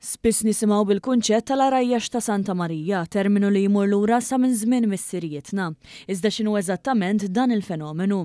Spiss nisimgħu bil-kunċett tal-għarajjax ta' Santa Marija, terminu li jmur lura sa minn żmien missirijietna. Iżda x'inhu eżattament dan il-fenomenu?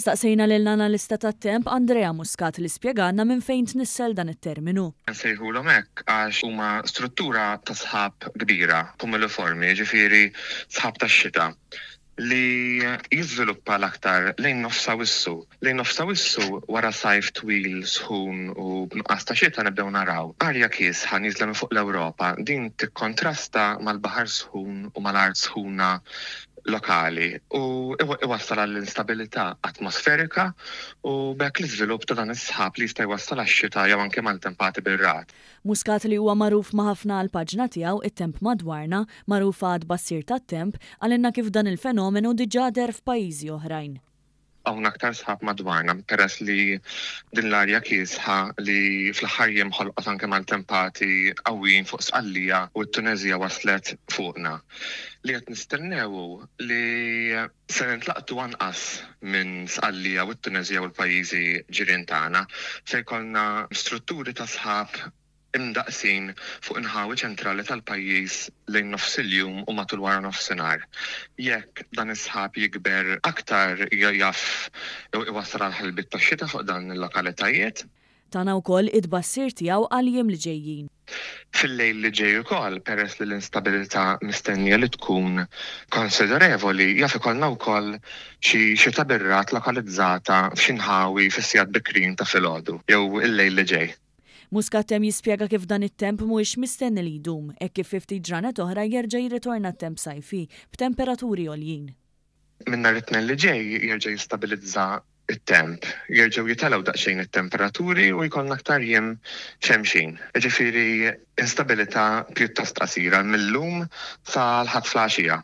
Staqsejna lill-analista tat-temp Andrea Muscat li spjegalna minn fejn tnissel dan it-terminu. Insejħulhom hekk għax huma struttura ta' sħab kbira, kumuliformi, jiġifieri sħab tax-xita. li jiżviluppa l-aktar lejn Nofs Awissu. Lejn Nofs Awissu, wara sajf twil sħun u b'nuqqas ta' xita nibdew naraw arja kiesħa nieżla minn fuq l-Ewropa. Din tikkontrasta mal-baħar sħun u mal-art sħuna lokali u iwassal għall-instabilità atmosferika u b'hekk l-iżvilupp ta' dan is-sħab li jista' jwassal għax-xita jew anke maltempati bir-ragħad. Muscat li huwa magħruf ma' ħafna għall-paġna tiegħu It-Temp Madwarna, magħrufa għat-tbassir tat-temp, qalilna kif dan il-fenomenu diġà deher f'pajjiżi oħrajn. Hawn aktar sħab madwarna peress li din l-arja kiesħa li fl-aħħar jiem ħolqot anke maltempati qawwijin fuq Sqallija u t-Tuneżija waslet fuqna. Li qed nistennew hu li. Se nintlaqtu anqas minn Sqallija u t-Tuneżija u l-pajjiżi ġirien tagħna. Se jkollna strutturi ta' sħab imdaqqsin fuq inħawi ċentrali tal-pajjiż lejn nofs il-jum u matul waranofsinhar. Jekk dan is-sħab jikber aktar jaf iwassal għal ħelbiet tax-xita fuq dawn il-lokalitajiet. Tana wkoll it-tbassir tiegħu għall-jiem li ġejjin. Fil-lejl li ġej ukoll, peress li l-instabilità mistennija li tkun konsiderevoli, jaf ikollna wkoll xi xita bir-ragħad lokalizzata f'xi nħawi fis-sigħat bikrin ta' filgħodu jew il-lejl li ġej. Muscattem jispjega kif dan it-temp mhuwiex mistenni li jdum, hekk kif fi ftit ġranet oħra jerġa' jirritorna t-temp sajfi, b'temperaturi għoljin. Minn nhar it-Tnejn li ġej jerġa' jistabilizza t-temp. Jerġgħu jitgħlew daqsxejn it-temperaturi u jkollna aktar jiem xemxin. Jiġifieri instabilità pjuttost qasira, mil-lum sa l-Ħadd flgħaxija.